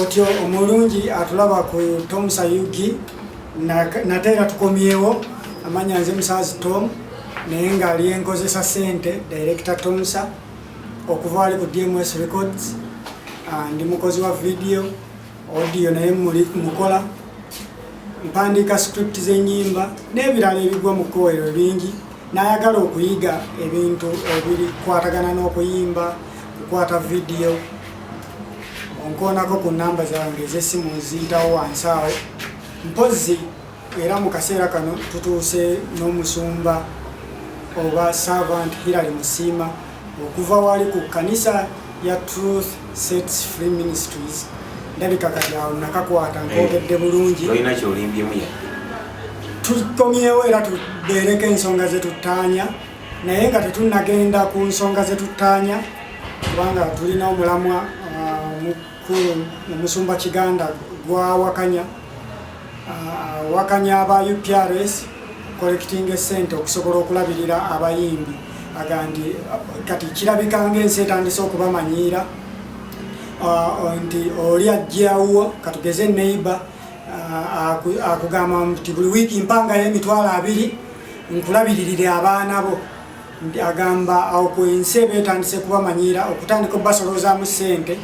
otyo omulungi atulaba ku tom sayugi nate era tukomyewo amanya nze musaazi tom naye ngaali enkozesa sente director tomsa okuva ali ku dms records ah, ndi mukozi wa vidiyo audio naye muli mukola mpandiika script z'enyimba n'ebirala ebigwa mu kkowerero bingi Nayagala okuyiga ebintu ebikwatagana n'okuyimba, kukwata vidiyo, onkoonako ku nnamba zange ez'essimu nziyitawo wansi awo. Mpozzi era mu kaseera kano tutuuse n'omusumba oba servant Hillary Musiima. okuva wali ku kanisa ya truth sets free ministries ndabika kati awo nakakwata eh, nkogedde bulungi olina kyolimbyemu yadde tukomyewo era tubeereko ensonga zetuttaanya naye nga tetunagenda ku nsonga zetuttaanya kubanga tulina omulamwa uh, ku omusumba kiganda gwawakanya awakanya aba uprs collecting esente okusobola okulabirira abayimbi agandi kati kirabika ngaensi etandise okubamanyiira nti oli ajjawuwo katugeze neiba akugamba nti buli wiiki mpangayo emitwalo abiri nkulabiririre abaana bo agamba awo ku ensi eba etandise kubamanyiira okutandika okubasolozaamu ssente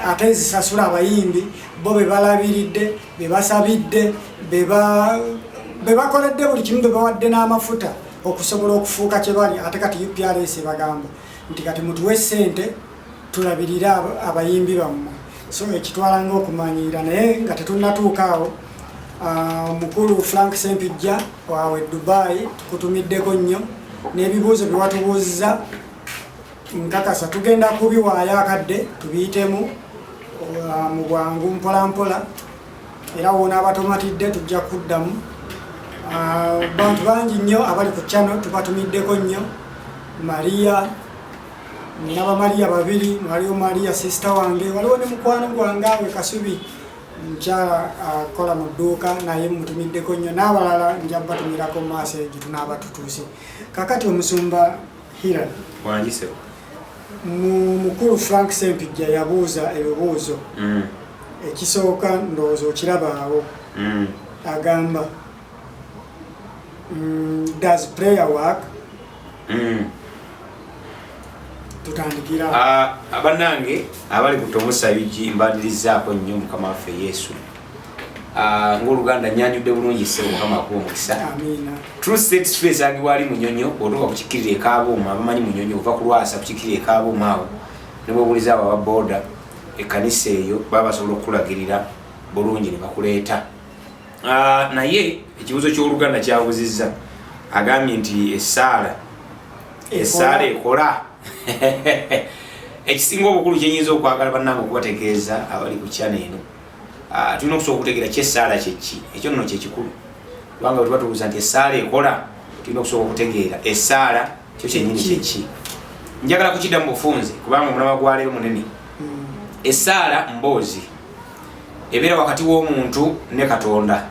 ate ezisasula abayimbi bo bebalabiridde bebasabidde bebakoledde buli kimu bebawadde n'amafuta okusobola okufuuka kyebali ate kati uprs ebagamba nti kati mutuwe ssente tulabirire abayimbi bammwe so ekitwala ngaokumanyiira naye nga tetunnatuuka awo ah, mukulu frank sempijja wawe dubai tukutumiddeko nnyo n'ebibuuzo byewatubuuzza nkakasa tugenda kubiwaayo akadde tubiyitemu ah, mu bwangu mpolampola era wona abatomatidde tujja kuddamu ah, bantu bangi nnyo abali ku chano tubatumiddeko nnyo maria nina bamaliya babiri waliwo maliya sisita wange waliwo ne mukwano gwange awe kasubi mukyala akola mu dduuka naye mutumiddeko nnyo n'abalala nja batumirako mu maaso egyo tunaaba tutuuse kakati omusumba hira mukulu frank sempijja yabuuza ebibuuzo mm. ekisooka ndowooza okirabaawo mm. agamba Mm, does prayer work? Mm. tutandikira ah, abanange abali ku tomusayugi mbadirizaako nnyo mukama waffe yesu ah, ngaoluganda nyanjudde bulungi se mukama akuba omukisa trusetstr ezagibwa ali munyonyo otuuka kukikirira ekaabuuma abamanyi munyonyo ova kulwasa kukikirira ekaabuuma awo nebwobuliza abo ababoda ekanisa eyo baba basobola okukulagirira bulungi nebakuleeta Ah, naye ekibuzo kyoluganda kyabuzizza agambye nti esaala esaala ekola ekisinga obukulu kyenyinza okwagala banange okubategeeza abali ku kyana eno ah, tulina okusobola okutegeera ki esaala kyeki ekyo nno kyekikulu kubanga wetuba tubuuza nti esaala ekola tulina okusobola okutegeera esaala kyo kyenyini kyeki njagala kukidda mu bufunze kubanga omulama gwaleero munene hmm. esaala mboozi ebeera wakati w'omuntu ne katonda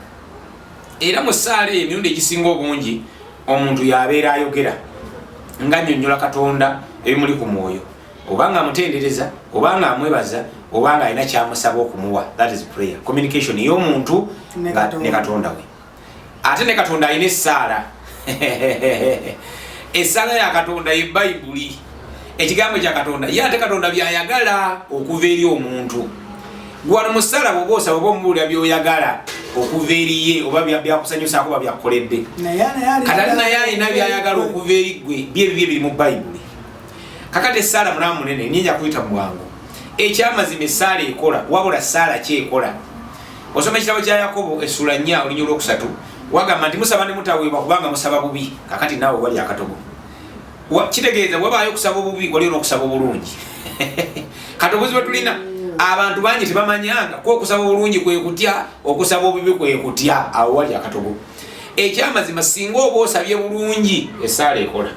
era mu ssaala eyo emirundi egisinga obungi omuntu yabeera ayogera nga nyonyola katonda ebimuli ku mwoyo oba nga amutendereza oba nga amwebaza oba nga alina kyamusaba okumuwa that is prayer communication ey'omuntu ne katonda we ate ne katonda alina essaala essaala ya katonda ye bayibuli ekigambo kya katonda ye ate katonda byayagala okuva eri omuntu gwano musala bwoba osaba oba omubuulira byoyagala okuva eriye oba byakusanyusaako oba byakukoledde katali naye alina byayagala okuva eri gwe byebibyo ebiri mu bayibuli kakati esaala mulamu munene nyinja kuyita mu bwangu ekyamazima esaala ekola wabula saala kyekola osoma ekitabo kya yakobo essula nnya olunya olwokusatu wagamba nti musaba ne mutaweebwa kubanga musaba bubi kakati naawe wali akatogo kitegeeza wabaayo okusaba obubi waliyo n'okusaba obulungi kati obuzi bwe tulina abantu bangi tebamanyanga ku okusaba obulungi kwe kutya okusaba obubi kwe kutya awo wali akatogo ekyamazima singa oba osabye bulungi esaala ekola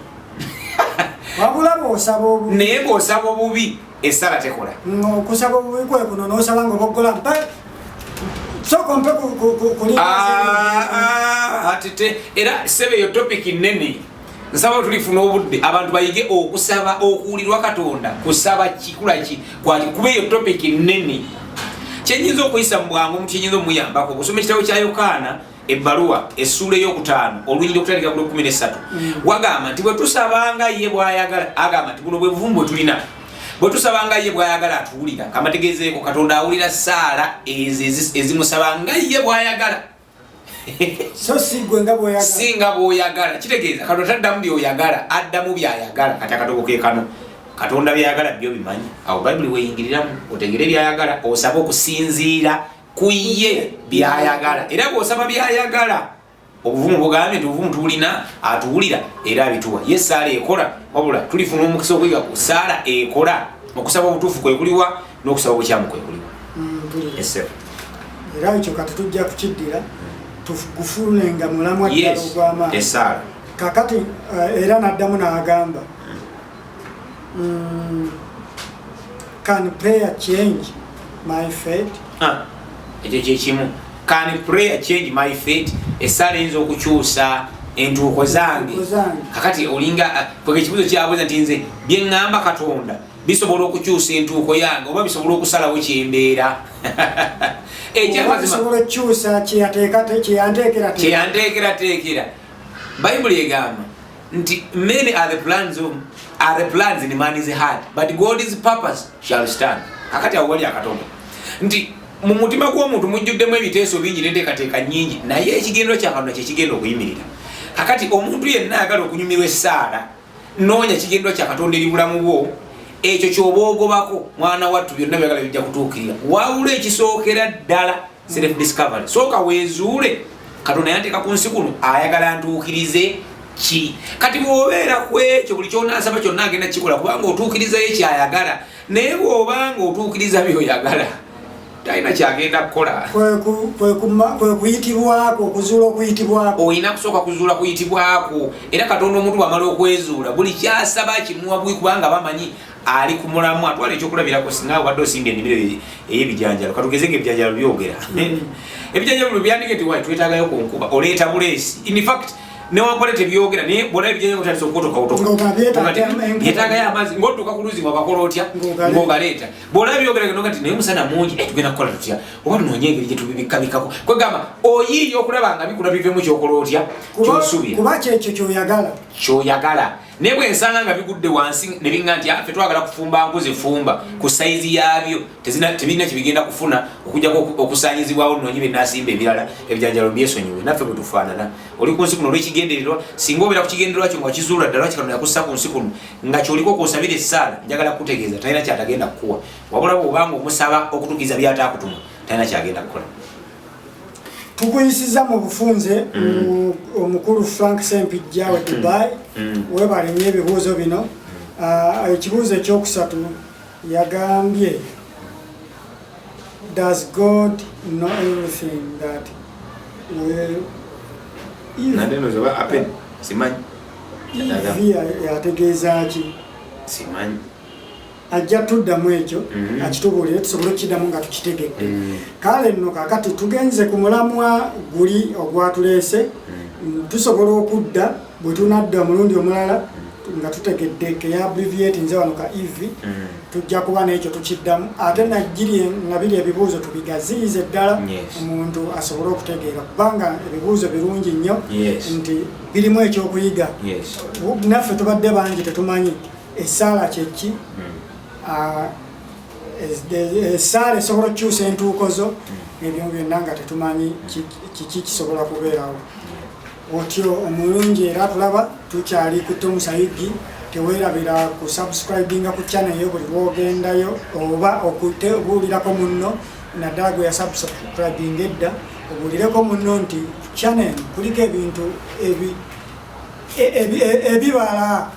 naye ngaosaba obubi esala tekola okusaba obubi kwe kuno nosaba nga oboggola mpe soka ompe kuliati ah, ah, te era sebe eyo topiki nnene nsaba tulifuna obudde abantu bayige okusaba okuwulirwa katonda kusaba kikula ki kwati kuba eyo topiki nnene kyenyinza okuyisa mu bwangu mu kyenyinza omuyambako okusoma ekitabo kya yokaana ebbaluwa essuula eyokutaano olunyiri okutandika ku lwekumi nesatu mm. wagamba nti bwetusabanga ye bwayagala agamba nti buno bwebuvumu bwetulina bwetusabanga ye bwayagala atuwulira kamategezeeko katonda awulira saala ezo ezimusaba nga ye bwayagala singa bwoyagala kitegeeza katonda taddamu byoyagala addamu byayagala kati akatogo kekano katonda byayagala byo bimanyi awo bayibuli weyingiriramu otegere byayagala osabe okusinziira ku ye byayagala era bwosaba byayagala obuvumu bugambye nti obuvumu tubulina atuwulira era abituwa ye saala ekola wabula tulifuna omukisa okuyiga ku saala ekola okusaba obutuufu kwekuliwa n'okusaba obukyamu kwekuliwa mm, era ekyo kati tujja kukiddira tugufune nga mulamwa ddala ogw'amaanyi kakati eh, era n'addamu n'agamba Mm, can prayer change my fate? Ah, ekyo kyekimu can prayer change my fate esaala eyinza okukyusa entuuko zange kakati olinga ah, kwega ekibuzo kyabuza nti nze byeŋŋamba katonda bisobola okukyusa entuuko yange oba bisobola okusalawo kyembeera ekyakyeyantekateekera bayibuli egamba nti many are the plans of are the plans in man is hard but god is purpose shall stand akati awali akatonda nti mu mutima gw'omuntu mujjuddemu ebiteeso bingi n'enteekateeka nyingi naye ekigendero kya katonda kye kigenda okuyimirira kakati omuntu yenna ayagala okunyumirwa essaala noonya kigendero kya katonda eri bulamu bwo ekyo kyoba ogobako mwana wattu byonna byagala bijja kutuukirira wawula ekisookera ddala self discovery soka wezuule katonda yanteka ku nsi kuno ayagala ntuukirize ki kati bwobeera ku ekyo buli kyonasaba kyonna agenda kikola kubanga otuukirizayo kyayagala naye bwobanga otuukiriza byoyagala talina kyagenda kukola kwekuyitibwako okuzuula okuyitibwako olina kusooka kuzuula kuyitibwako era katonda omuntu bwamala okwezuula buli kyasaba kimuwa bwi kubanga bamanyi ali ku mulamwa atwala ekyokulabirako singa obadde osimba ennimiro ey'ebijanjalo katugeze nga ebijanjalo byogera hmm. ebijanjalo bino byandike nti wai twetagayo ku nkuba oleeta buleesi in fact newankole tebyogera naye bwona ebijanjalo otandisa okukotokaotokabyetagayo amazzi ngaotuuka ku luzi wabakola otya ngaogaleeta bwona byogera geno kati naye musana mungi eh, tugenda kukola tutya oba tunonye engeri gyetubibikabikako kwegamba oyiiya okulaba nga bikula bivemu kyokola otya kyosuubira kuba kyekyo kyoyagala kyoyagala naye bwe nsanga nga bigudde wansi ne biŋŋa nti afe ah, twagala kufumba nku zifumba ku sayizi yaabyo tebirina kye bigenda kufuna okujjako okusaanyizibwawo noonyi bye nasimba ebirala ebijanjalo byesonyiwe naffe bwe tufaanana oli ku nsi kuno olw'ekigendererwa singa obeera ku kigendererwa kyo nga kizuula ddala kikano yakussa ku nsi kuno nga kyoliko okwosabira essaala njagala kukutegeeza talina kyatagenda kukuwa wabula bw'obanga omusaba okutukiza byataakutuma talina kyagenda kukola tukuyisiza mu bufunze mm. omukulu frank sempijja wa mm. dubai mm. webale nyo ebibuuzo bino ah, ekibuuzo ekyokusatu yagambye does god know everything that yategeezaki simanyi ajja tuddamu ekyo mm-hmm. akitubuulire tusobole okukiddamu nga tukitegedde mm-hmm. kale nno kakati tugenze ku mulamwa guli ogwatuleese mm-hmm. tusobola okudda bwe tunadda omulundi omulala nga tutegedde keyabriviat nze wano ka ev tujja kuba nekyo tukiddamu ate nagiri nga biri ebibuuzo tubigaziyiza eddala omuntu asobole okutegeera kubanga ebibuuzo birungi nnyo nti birimu ekyokuyiga naffe tubadde bangi tetumanyi Essaala kye ki? Essaala hmm. ah, esobola okukyusa entuuko zo hmm. ebyo byonna nga tetumanyi kiki kisobola kubeerawo. Hmm. Otyo omulungi era tulaba tukyali ku Tom Sayidi tewerabira ku subscribinga ku channel yo buli lwogendayo oba okutebuulirako munno naddala gwe yasubscribinga edda obuulireko munno nti channel kuliko ebintu ebi ebibala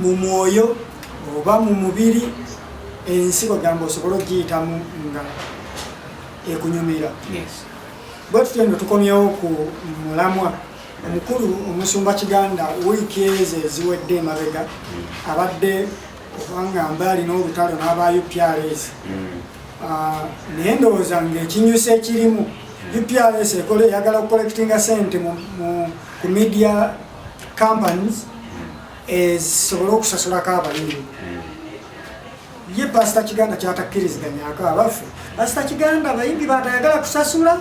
mu mwoyo oba mu mubiri ensi bagamba osobole okugiyitamu nga ekunyumira bwe tutyo no tukomyewo ku mulamwa omukulu omusumba kiganda wiiki ezo eziwedde emabega mm. abadde kubanga mbaali n'olutalo n'aba uprs mm. ah, naye ndowooza ngaekinyusa ekirimu mm. uprs ekola eyagala okukolekitinga sente ku media companies ezisobole eh, okusasulako abalimi ye pasita kiganda kyatakkiriziganyako abaffe pasita kiganda abayimbi batayagala kusasula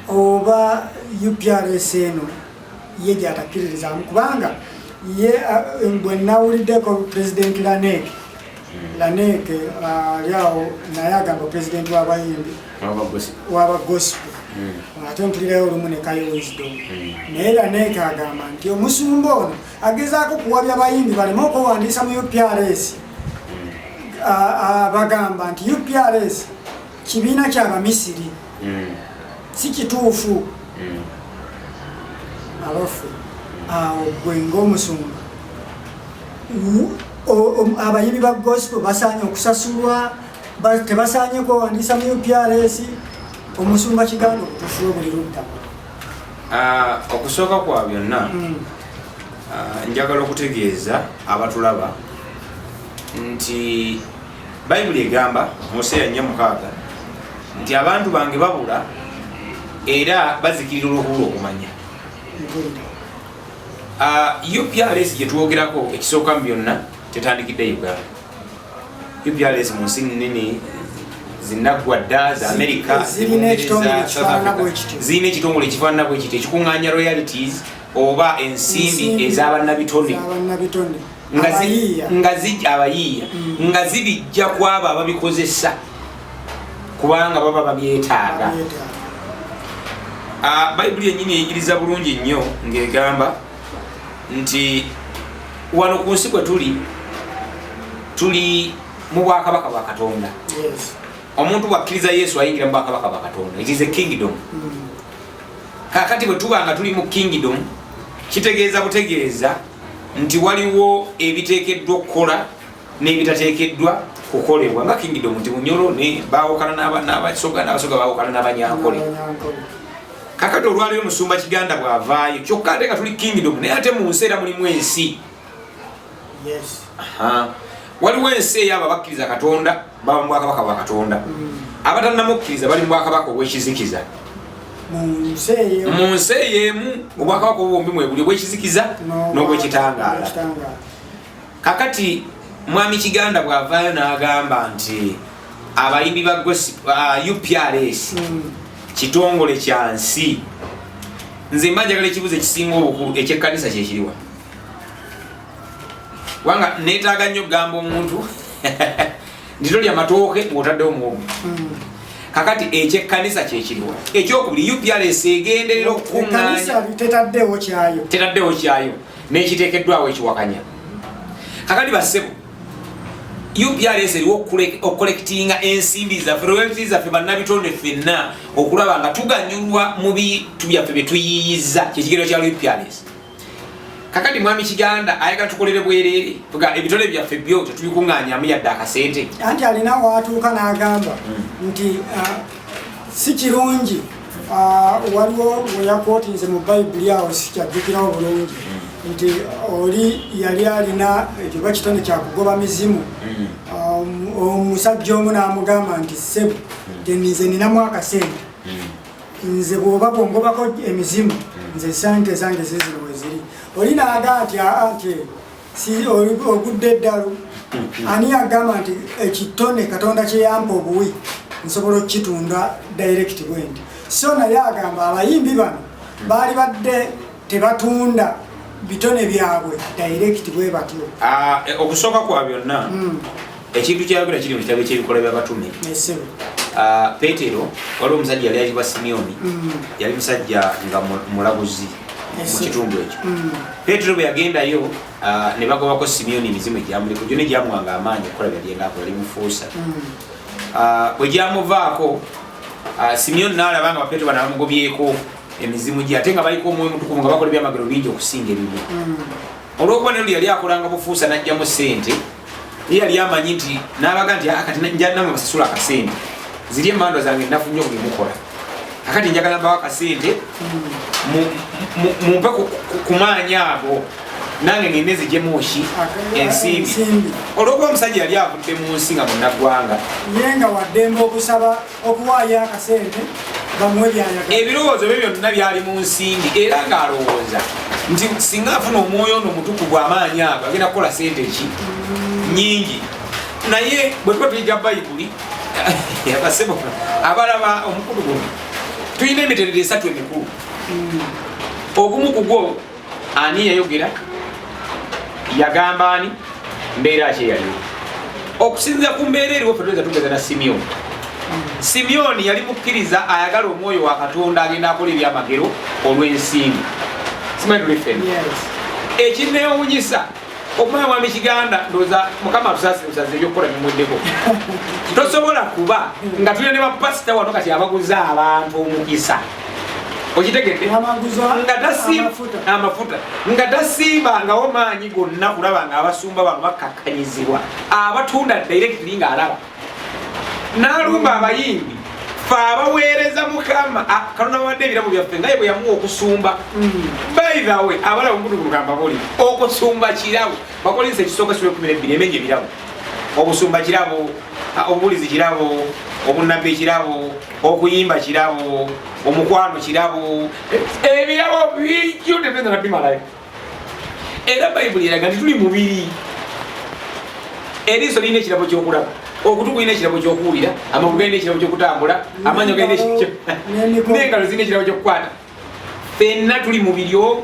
oba uprs eno ye gyatakkiririzamu kubanga ye bwe nawuliddeko pulezidenti laneeke laneeke ali awo naye agamba pulezidenti w'abayimbi waba gospel hmm. ate mpulirayo olumu nekayo wisdom hmm. naye laneeka agamba nti omusumba ono agezaako kuwabya bayimbi baleme okwewandiisa mu uprs hmm. bagamba nti uprs kibiina kyabamisiri si kituufu abaffe awo gwe ngaomusumba abayimbi ba gospel basaanye okusasulwa tebasaanye kwewandiisa mu uprs omusumba kiganda okutufuwe buli ludda ah, okusooka kwa byonna hmm. ah, njagala okutegeeza abatulaba nti bayibuli egamba museya nya mukaaga nti abantu bange babula era bazikirira olwokubula okumanya ah, uprs gyetwogerako ekisooka mu byonna tetandikidde uganda UPRS mu nsi nnene zinaggwa dda za amerika zirina ekitongole ekifaanana bwe kiti ekikuŋŋaanya royalities oba ensimbi ez'abannabitone abayiiya mm. nga zibijja ku abo ababikozesa kubanga baba babyetaaga ah, bayibuli yennyini eyigiriza bulungi nnyo ng'egamba nti wano ku nsi kwe tuli tuli mu bwakabaka bwa katonda omuntu bwakkiriza yesu ayingira mu bwakabaka bwa katonda it is a kingdom mm. kakati bwe tuba nga tuli mu kingdom kitegeeza butegeeza nti waliwo ebiteekeddwa okukola n'ebitateekeddwa kukolebwa nga kingidom nti bunyolo bawukana n'abasoga n'abasoga bawukana n'abanyankole kakati olwaliwo musumba kiganda bwavaayo kyokka ate nga tuli kingidom naye ate mu nsi era mulimu ensi waliwo ensi eyaabo abakkiriza katonda baba mubwakabaka bwa katonda mm. abatannamukkiriza bali mubwakabaka obwekizikiza mu nsi eyo emu obwakabaka obwo bwombi mwebuli obwekizikiza n'obwekitangaala kakati mwami kiganda bwavayo nagamba nti abayimbi ba uh, uprs mm. kitongole kya nsi nze mba njagala ekibuzo ekisinga obukulu ekyekkanisa kyekiriwa kubanga netaaga nnyo okugamba omuntu nti tolya matooke ngotaddewo muwogo mm. kakati ekyekkanisa kyekiriwa ekyokubiri uprs egenderera okukuŋŋanya tetaddewo kyayo n'ekiteekeddwawo ekiwakanya kakati bassebo uprs eriwo okukolekitinga ensimbi zaffe royalti zaffe bannabitonde ffenna okulaba nga tuganyulwa mu bitu byaffe bye tuyiiyiza kyekigero kya uprs kakati mwami kiganda ayagala tukolere bwerere ga ebitole byaffe byo tetubikuŋŋanyamu yadde akasente anti alina waatuuka n'agamba hmm. nti uh, si kirungi ah, waliwo weyakootinze mu bayibuli awo sikyajjukirawo bulungi nti oli yali alina ekyo bakitone kyakugoba mizimu omusajja omu n'amugamba nti sebo tenize ninamu akasente nze bwoba bwongobako emizimu nze sente zange zizino weziri oli naaga nti aa nti si ogudde eddalu mm-hmm. ani agamba nti ekitone eh, katonda kyeyamba obuwi nsobola okukitunda direct bwendi so naye agamba abayimbi bano mm-hmm. baali badde tebatunda bitone byabwe direct bwe batyo ah, eh, okusooka kwa byonna mm. ekintu kyayogera kiri mu kitabo ekyebikolwa byabatume ah, petero waliwo omusajja yali ayitibwa simiyoni mm. yali musajja nga mulabuzi mu kitundu ekyo mm. petero bwe yagendayo ah, ne bagobako simiyoni emizimu egyamuleko gyo ne gyamuwanga amaanyi okukola byalyengako yali mufuusa mm. ah, bwe gyamuvaako simiyoni naalaba nga bapetero bana bamugobyeko emizimu gye ate nga baliko omwoyo mutukuvu nga bakola ebyamagero bingi okusinga ebimu olwokuba nelu yali akolanga bufuusa najjamu sente ye yali amanyi nti nabaga nti ah, kati njanama basasula akasente ziri emandwa zange nafu nyo kubimukola akati njagala mbawo akasente mumpe kumaanyi ago nange ngende zijemuki ensimbi olwokuba omusajja yali avudde mu nsi nga munaggwanga ye nga waddembe okusaba okuwaayo akasente bamuwe byayagala ebirowoozo bye byonna byali mu nsimbi era ng'alowooza nti singa afuna omwoyo ono omutukuvu amaanyi ago agenda kukola sente ki nyingi naye bwe tuba tuyiga bayibuli abasebo abalaba omukulu guno tulina emiterero esatu emikulu ogumu kugwo ani yayogera yagamba ani mbeera ki eyaliwo okusinzira ku mbeera eriwo fe tuyinza tugeza na simyoni simyoni yali mukkiriza ayagala omwoyo wa katonda agenda akola ebyamagero olw'ensimbi simanyi tulife ekinneewunyisa yes. okumanya mwami kiganda ndoza mukama tusasimusaza ebyokukola bimweddeko tosobola kuba nga tulina ne bapasita wano kati abaguza abantu omukisa okitegedde nga tasiima amafuta nga tasiibangawo maanyi gonna kulaba nga abasumba bano bakkakkanyizibwa abatunda directly ng'alaba n'alumba abayimbi fe abaweereza mukama kalona bawadde ebiramu byaffe nga ye bwe yamuwa okusumba mm. bayirawe abalaba omukutu kulugamba buli okusumba kirabo bakolinsa ekisooka sula ekumi nebbiri emenya ebirabo obusumba kirabo obubulizi kirabo obunabbi ekirabo okuyimba kirabo omukwano kirabo ebirabo bijjo tetenga nabimalayo era bayibuli eraga nti tuli mubiri eriiso lirina ekirabo kyokulaba okutu kulina ekirabo kyokuwulira amagulu galina ekirabo kyokutambula amaanyo galinengalo zirina ekirabo kyokukwata fenna tuli mubiri omu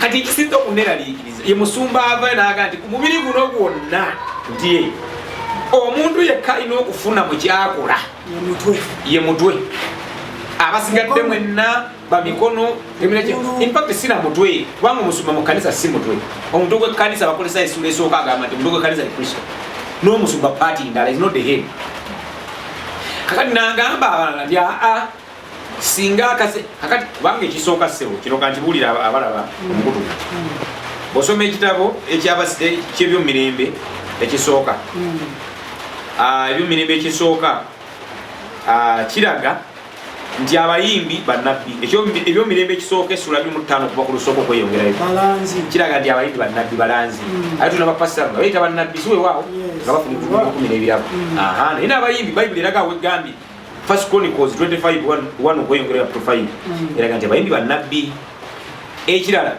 kati ekisinza okuneralikiriza ye musumba ava naga nti ku mubiri guno gwonna nti omuntu yekka alina okufuna mu kyakola ye mutwe abasigadde mwenna bamikono empapti sina mutwe kubanga omusumba mu kanisa si mutwe omuntu gwekkanisa bakozesa esula esooka agamba nti omuntu gwekkanisa ye kristo n'omusumba paati ndala is not the head kakati nagamba abalala nti aa singa akase kakati kubanga ekisooka ssebo kino kankibuulira abalaba omukutu bosoma ekitabo ekyebyomumirembe ekisooka hmm. ah, ebyomumirembe ekisooka ah, kiraga nti abayimbi banabbi ebyomirembe ekisooka esula bimu ttaano okuva ku lusooka okweyongerayo kiraga nti abayimbi banabbi balanzi mm. ate tunabapasita nga bayita banabbi siwewaawo nga bafunikumi n'ebirabo mm. naye n'abayimbi bayibuli eraga wegambye first chronicles 25 okweyongerayo up to 5 mm. eraga nti abayimbi banabbi ekirala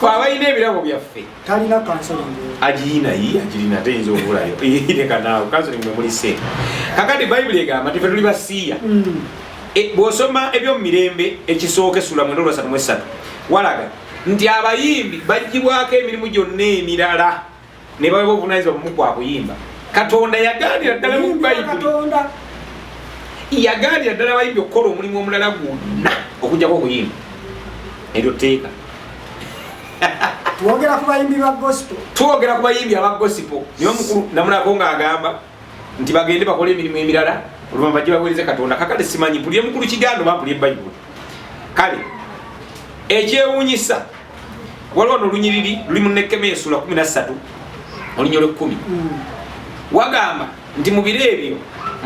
fe abalina ebirabo byaffe talina agirina yi agirina ate yinza obulayo irekanaawo kansoling mwe muli se kakati bayibuli egamba nti fe tuli basiiya mm. e, bw'osoma ebyomumirembe ekisooka esula mwenda olwasatu mu essatu walaga nti abayimbi bagibwako emirimu gyonna emirala ne baweebwa obuvunaanyizibwa bumu kwa kuyimba katonda yagaanira ddala mu bayibuli yagaanira ddala bayimbi okukola omulimu omulala gwonna okujjako okuyimba eryo tteeka twogera ku bayimbi ba gosipo twogera ku bayimbi aba gosipo niwe mukulu namulako ng'agamba nti bagende bakole emirimu emirala oluvanyuma bajje baweereze katonda kakale simanyi mpulire mukulu kigambo bampulire bayibuli kale ekyewunyisa waliwo nolunyiriri luli munekema esula 13 olunya lwekumi hmm. wagamba nti mubiro ebyo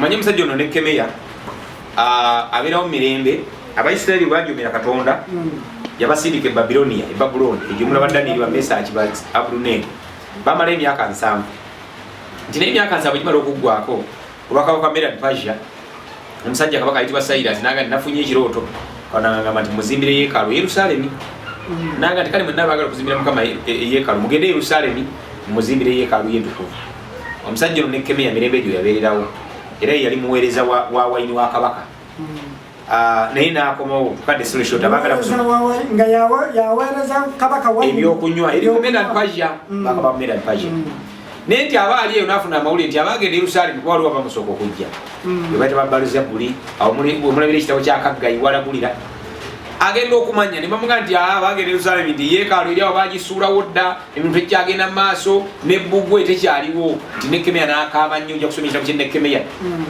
manye omusajja ono nekemeya abeerawo mumirembe abaisirairi bajumira katonda hmm. yabasindika ebabilonia ebabulooni ejumula badaniri bamesaki ba abuluneri bamala emyaka nsanvu nti naye emyaka nsaabwe gimala okuggwako olwakaba kwa meran pasia omusajja kabaka ayitibwa sairas naga nti nafunye ekirooto kanagamba nti muzimbire yekalu yerusalemi mm. naga nti kale mwena bagala okuzimbira mukama e, e, yekalu mugende yerusalemi muzimbire yekalu yentukuvu omusajja ono nekemeya mirembe egyo yabeererawo era yeyali muweereza wa waini wa kabaka mm. Ah, naye nakomawo kade nga yawereza kabaka ebyokunywa erimumenapaja mm. bakaba mumenapaja mm. naye nti aba ali eyo nafuna amawulire nti abagenda yerusalemu kuba waliwo bamusooka okujja mm. ebaita babaluza buli omulabira ekitabo kyakagga iwalagulira agenda okumanya nebamuga nti ah, abagenda yerusalemu nti yekaalo eri awo bagisuulawo dda emintu ekyagenda mu maaso nebbugwe tekyaliwo nti nekemeya nakaaba nnyo oja kusoma ekitabo kyenekemeya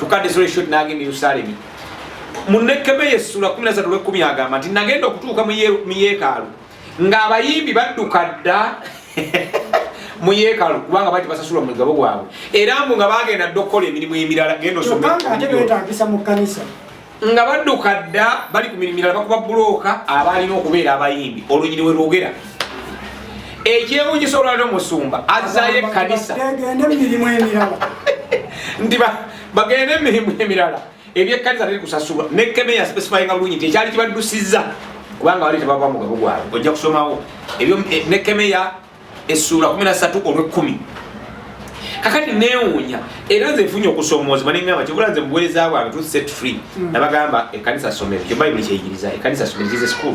tukadde soleshot nagenda yerusalemu munekemeya essula 13 lwekumi agamba nti nagenda okutuuka mu yeekaalu ng'abayimbi badduka dda mu yeekaalu kubanga bati basasulwa mu mugabo gwabwe era mbu nga bagenda dda okukola emirimu emirala genda osomebetagisa mu kkanisa nga badduka dda bali ku mirimu mirala bakuba bulooka abaalina okubeera abayimbi olunyiri we lwogera ekyewunyisa olwaliro musumba azzayo ekkanisa nti bagende emirimu emirala ebyekkanisa teri kusasulwa ne keme ya specifyinga bulungi nti ekyali kibaddusizza kubanga wali tebava mugabo gwabwe ojja kusomawo ebyo eh, ne keme ya essuula 13 olw'ekkumi kakati newuunya era nze nfunye okusoomoozebwa nengamba kibula nze mubuweereza bwange tu set free hmm. nabagamba ekkanisa somero kyo bayibuli kyeyigiriza ekkanisa somero kize school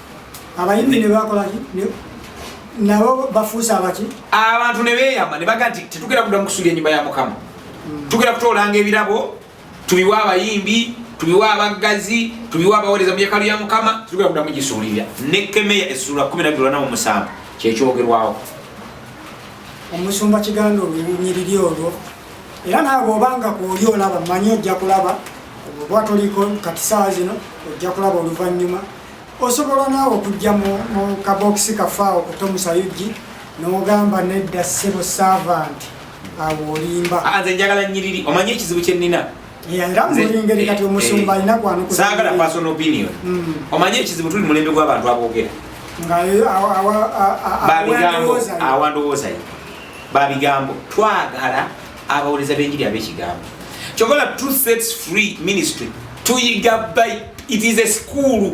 abayimbi ne bakola ki nabo bafuuse abaki abantu ne beeyama ne baga nti tetugenda kuddamu kusuula ennyumba ya mukama hmm. tugenda kutoolanga ebirabo tubiwe abayimbi tubiwe abaggazi tubiwe abaweereza mu yekalu ya mukama tetugenda kuddamu gisuulirira ne kemeya essuula 127 kyekyogerwawo omusumba kiganda olunyiriri olwo era naawe obanga kwoli olaba manyi ojja kulaba oba toliko katisaawa zino ojja kulaba oluvannyuma osobola naawe okujja mu kabokisi kafaawo ku tomusayugi nogamba nedda sebo servant awo olimba ah, nze njagala nyiriri omanyi ekizibu kyenina ngeri kati omusumba alina eh, kwanusaagala personal opinion mm. omanyi ekizibu tuli mulembe gw'abantu aboogera babigambo awandowoozayo babigambo twagala abawereza benjiri abekigambo kyogola two sets free ministry tuyiga by it is a school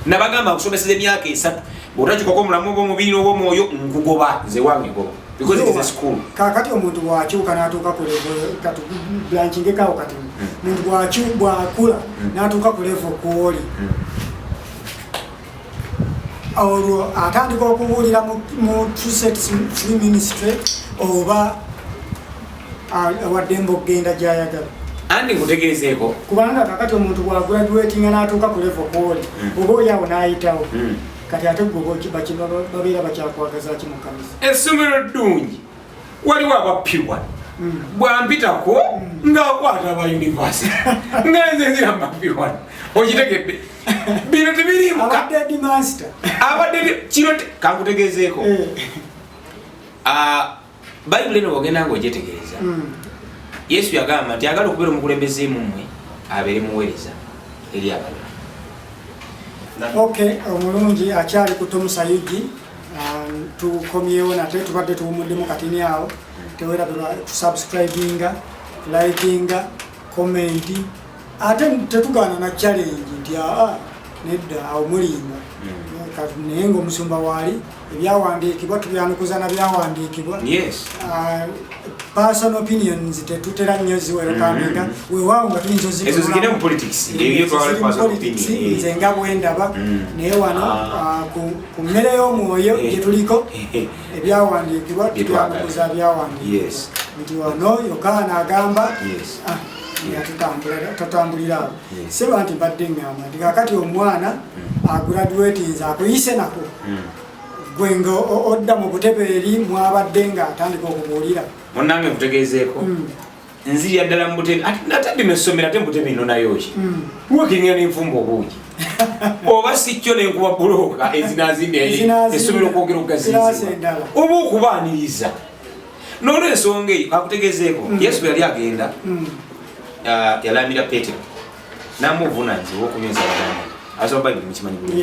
nabagamba okusomeseza emyaka esatu bwotakikoko omulamu oba omubiri oba omwoyo nkugoba nze wange goba because it is a school kakati omuntu bwakyuka natuuka ku level kati blanchingekawo kati hmm. muntu bwakula hmm. natuuka ku level kwoli hmm. olwo atandika okubuulira mu truset free ministry oba awaddemba okugenda gyayagala andi nkutegeezeeko kubanga kakati omuntu bwaguraduatinga n'atuuka ku levo kwoli hmm. oba oli awo n'ayitawo hmm. kati ate gwebabeera bakyakwagazaki mukanisa essomero ddungi waliwo abappibwa hmm. bwampitako ng'akwata aba univesity nga nze nzira mbappibwa okitegedde bino tebirimu abadde kino kankutegezeeko eh. ah, bayibuli eno bwogenda nga ogyetegereza hmm. yesu yagamba nti agala okubeera omukulembeze mumwe abeere muweereza eri abalala ok omulungi akyali kutomusa yugi ah, tukomyewo nate tubadde tuwumuddemu katini awo tewerabirwa tusubscribinga likinga komenti ate tetugaana na challenge nti aa nedda awo mulimba hmm. naye nga omusumba waali ebyawandiikibwa tubyanukuza na byawandiikibwa ah, personal opinions tetutera nnyo ziwerekandiga hmm. wewaawo nga tuyinza ozikulapolitics nze nga bwendaba hmm. naye wano ah. Ah, ku mmere y'omwoyo gyetuliko eh, eh, eh. ebyawandiikibwa tubyamukuza byawandiikibwa yokaana agamba ah, tatambulira awo seba nti mbadde ngamba nti kakati omwana hmm. agradwetinze akuyise nako hmm. gwe nga odda mu butebe eri mwabadde nga atandika okubuulira munange nkutegeezeeko hmm. nzirira ddala mu butebe ate natadde nessomero ate mubutebe inonayo ki hmm. wekengera nenfumba obuugi oba sikyo nenkuba bulooka ezinazimbi essomero okwogera okugaziiza oba okubaaniriza nolwensonga eyo akutegezeeko hmm. yesu bwe yali agenda hmm. ah, yalaamira petero namuvunanyiza owokunywa ensalaga asoba bayibuli mukimanyi bulungi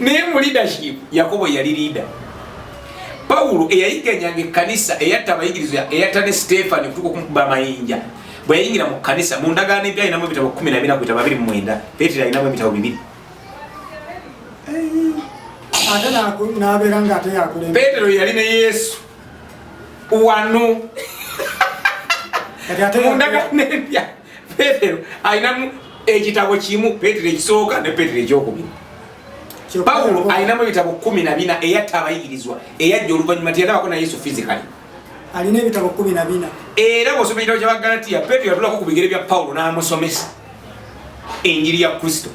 naye mu leadership yakobo yali leader pawulo eyayiganyanga ekkanisa eyatta abayigirizwa eyatta ne siteefani okutuka okumukuba amayinja bwe yayingira mu kkanisa mu ndagaano empya alinamu ebitabo kumi na bina ku bitabo abiri mu mwenda peetero alinamu ebitabo bibiri peetero yali ne yesu wano mu ndagaano empya petero alinamu ekitabo kimu petero ekisooka ne petero ekyokubiri pawulo alinamu ebitabo kumi na bina eyatta abayigirizwa eyajja oluvannyuma tiyalabako na yesu fizikali alina ebitabo kumi na bina era bwosoma ekitabo kya bagalatiya petero yatulako ku bigere bya pawulo n'amusomesa enjiri ya kristo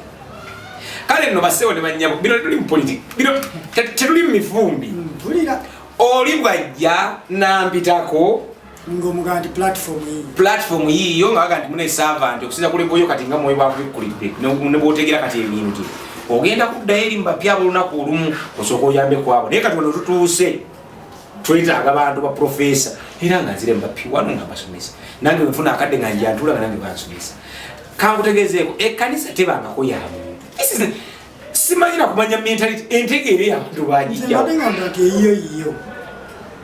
kale nno basewo ne bannyabo bino tetuli mu politiki bino tetuli mu mivumbi hmm, oli bwajja nampitako ng'omugamba nti platform yiyo platform yiyo nga baga nti mune servant okusinza ku lebo yo kati nga mwoyo bwakubikkulidde ne bwotegera kati ebintu ogenda kuddayo eri mubapya ab'olunaku olumu osooka oyambe kwabo naye kati wano tutuuse twetaaga bantu ba profesa era nga nzire mubapya wano nga mbasomesa nange wenfuna akadde nga njantula nga nange bansomesa kankutegezeeko ekkanisa tebangako yamu simanyi na kumanya mentality entegeere yabantu bajijja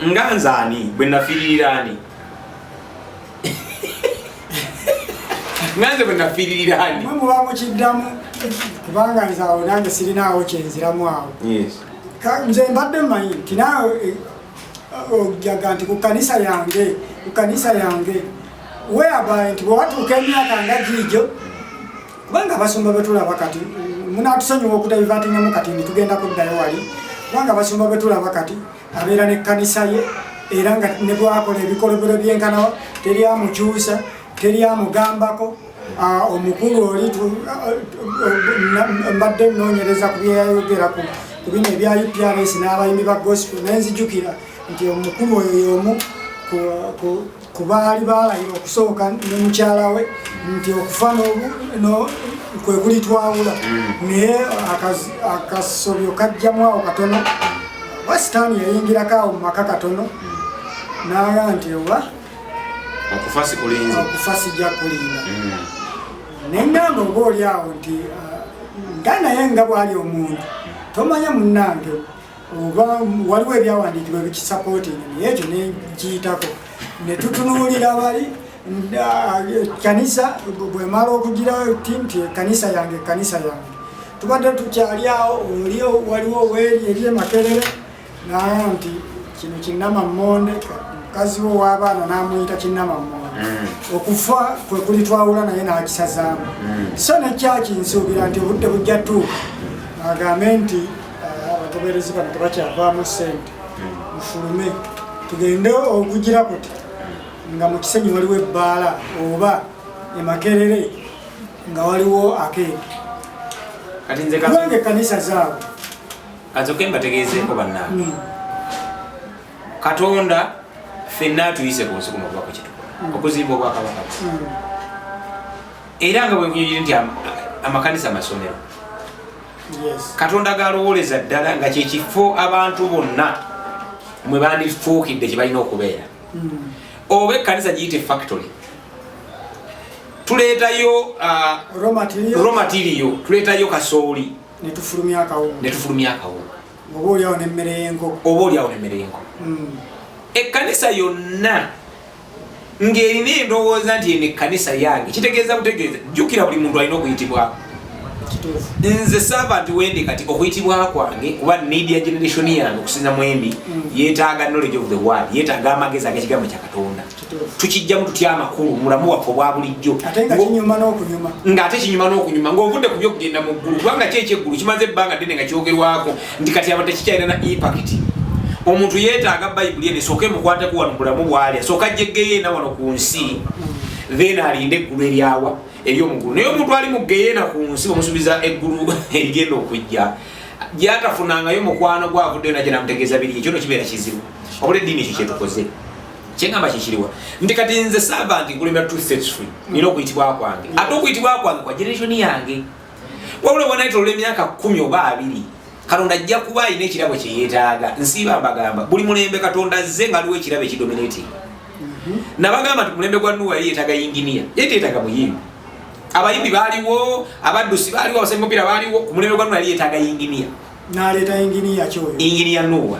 nga nze ani bwe nafiiririra ani nga nze bwe nafiiririra ani mwe muba mukiddamu kubanga nze awo nange sirinaawo kyenziramu awo nze mbadde mmanyi nti naawe eh, ojaga nti ku kanisa yange ku kanisa yange weabaye nti bwewatuuka emyaka nga giijo kubanga abasumba betulaba kati munatusonyiwa okutabivatinyamu kati nitugenda kuddayo wali kubanga abasumba betulaba kati abeera nekkanisa ye era nga nebwakola ebikolobero byenkanawa teri amukyusa teri amugambako ah, omukulu oli mbadde nonyereza ku byeyayogera ku bino ebya uprs n'abayimbi ba gospel nenzijukira nti omukulu oyo yomu ku baali baalayira okusooka ne mukyala we nti okufa kwe kuli twawula mm. naye akasobyo kajjamu awo katono oba sitaani yayingirako awo mu maka katono mm. naga nti oba okufa sikulinza okufa sijja kulinda mm. nengamba oba oli awo nti ah, nga naye nga bwali omuntu tomanya munnange oba waliwo ebyawandiikibwa ebikisapootinga naye ekyo negiyitako ne tutunuulira bali kanisa bwemala okugira ti nti ekanisa yange ekanisa yange tubadde tukyali awo oli waliwo weeri eri emakerere naye nti kino kinama monde mukazi wo w'abaana n'amuyita kinama monde mm. okufa kwe kuli twawula naye n'akisazaamu mm. so ne kyaki nsuubira nti obudde bujja tuuka agambe nti abagoberezi bano tebakyavaamu ssente mufulume tugende okugira kuti nga mu kisenyi waliwo ebbaala oba emakerere nga waliwo akeedi kubanga ekkanisa zaabo kazoke mbategeezeeko bannange hmm. katonda fenna atuyise ku nsi kuno okuba kwekitukola hmm. okuzimba obwakabaka hmm. era nga bwenkunyonyire nti amakanisa amasomero katonda galowoleza ddala nga kyekifo abantu bonna mwe bandifuukidde kye balina okubeera hmm. oba ekkanisa giyite factory tuleetayo uh, raw material tuleetayo kasooli netufulumya akawunga oba olyawo nemmere y'enkoko oba olyawo nemmere y'enkoko hmm. ekkanisa yonna ng'erina endowooza nti eno ekkanisa yange kitegeeza butegeeza jjukira buli muntu alina okuyitibwako nze saava nti wendi kati okuyitibwa kwange kuba media generation yange okusinza mwembi mm. yetaaga knowledge of the world yetaaga amagezi agekigambo kya katonda tukijjamu tutya amakulu mulamu waffe obwa bulijjo ng'ate kinyuma n'okunyuma ng'ovudde ku byokugenda mu ggulu kubanga kyeky'eggulu kimaze ebbanga ddene nga kyogerwako nti kati aba tekikyalina na impact omuntu yeetaaga bayibuli eno esooka emukwateko wano bulamu bwali asooka jeggeyeena wano ku nsi then alinde eggulu eryawa eri omugulu naye omuntu ali muggeyeena ku nsi omusuubiza eggulu erigenda okujja gyatafunangayo mukwano gwavuddeyo naja namutegeeza biri ekyo no kibeera kizibu obula eddiini ekyo kyetukoze kyengamba kyekiriwa nti kati nze saava nti kulemera two states free nina okuyitibwa kwange ate okuyitibwa kwange kwa generation yange wabula bwanayitolola emyaka kumi oba abiri katonda ajja kuba alina ekirabo kyeyetaaga nsiiba mbagamba buli mulembe katonda azze nga aliwo ekirabo ekidominati mhm. nabagamba nti mulembe gwa nuwa yali yetaaga yinginiya yali teyetaaga muyimbi abayimbi baaliwo abaddusi baaliwo abasembi mupiira baaliwo ku mulembe gwa nuwa yali yetaaga yinginiya naleeta yinginiya kyoyo yinginiya nuwa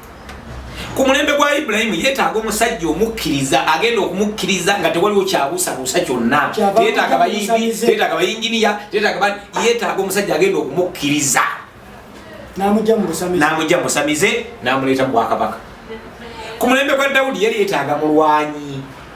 ku mulembe gwa ibulayimu yeetaaga omusajja omukkiriza agenda okumukkiriza nga tewaliwo kyabuusabuusa kyonna yeetaaga bayimbi yeetaaga bayinginiya yeetaaga omusajja agenda okumukkiriza n'amugya musamize n'amuleeta mu bwakabaka ku mulembe gwa dawudi yali yeetaaga mulwanyi